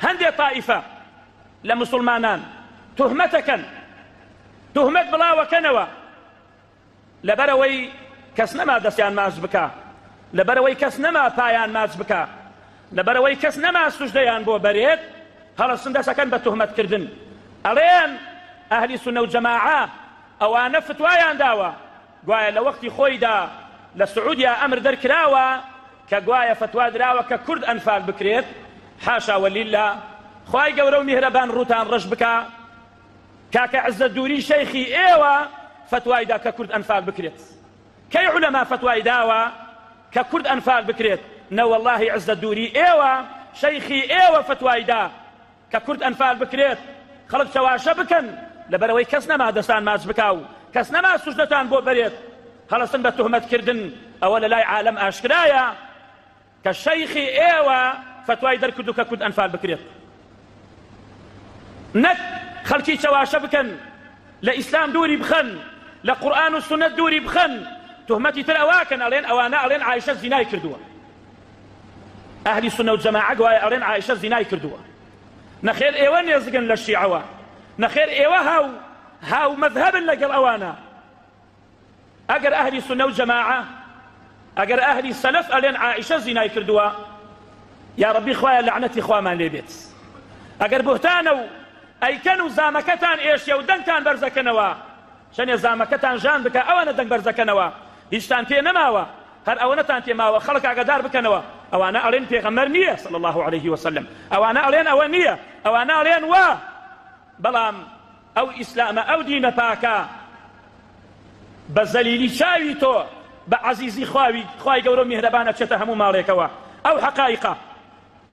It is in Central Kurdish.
هەندێ تائیفە لە موسڵمانان تهمەتەکەن تهمەت بڵاوەکەنەوە لەبەرەوەی کەس نەما دەستیان ماچ بکا لەبەرەوەی کەس نەما پایان ماچ بکا لەبەرەوەی کەس نەما سوژدەیان بۆ بەرێت هەڵەسن دەسەکەن بە تهمەتکردن ئەڵێن ئەهلی سنە و جەماعە ئەوانە فتوایان داوە گوایە لە وەختی خۆیدا لە سعودیا ئەمر دەرکراوە کە گوایە فتوا دراوە کە کورد ئەنفال بکرێت حاشا ولیلا خوای گەورە و میهرەبان ڕووتان ڕەش بکا کاکە عزە دووری شەیخی ئێوە فتوای دا کە کورد ئەنفال بکرێت کەی علەما فتوای داوە کە کورد ئەنفال بکرێت نەوەڵاهی عزە دووری ئێوە شەیخی ئێوە فتوای دا کە کورد ئەنفال بکرێت خەڵک چەواشە بکەن لەبەرئەوەی کەس نەما دەستان ماچ بکا و کەس نەما سوژدەتان بۆ بەرێت هەڵەسن بە تهمەت کردن ئەوە لەلای عالەم ئاشکرایە کە شەیخی ئێوە فتوای دەرکردو کە کورد ئەنفال بکرێت نەک خەڵکی چەواشە بکەن لە ئیسلام دووری بخەن لە قورآن و سنت دووری بخەن تهمەتی تر ئەواکەن ئەڵێن ئەوانە ئەڵێن عیشە زینای کردووە ئەهلی سونە و جەماعە گوایە ئەڵێن عائیشە زینای کردووە نەخێر ئێوە نێزگن لە شیعەوە نەخێر ئێوە هاو هاو مەذهبن لەگەڵ ئەوانە ئەگەر ئەهلی سونە و جەماعە ئەگەر ئەهلی سەلەف ئەلێن عائیشە زینای کردووە یا ڕبی خوایە لەعنەتی خوامان لێ بێت ئەگەر بهتانە و ئەیکەن و زامەکەتان ئێشێ و دەنگتان بەرزەکەنەوە چە نیزامەکەتان ژان بکە ئەوانە دەنگ بەرزەکەنەوە هیچتان پێ نەماوە هەر ئەوەنەتان پێ ماوە خەڵک ئاگادار بکەنەوە ئەوانە ئەڵێن پێغەمبەر نیە صلی اللە علیە وسلم ئەوانە ئەڵێن ئەوە نیە ئەوانە ئەڵێن وا بەڵام ئەو ئیسلامە ئەو دینە پاکە بە زەلیلی چاوی تۆ بە عەزیزی خواوی خوای گەورە و میهرەبانە چێتە هەموو ماڵێکەوە ئەو حەقایقە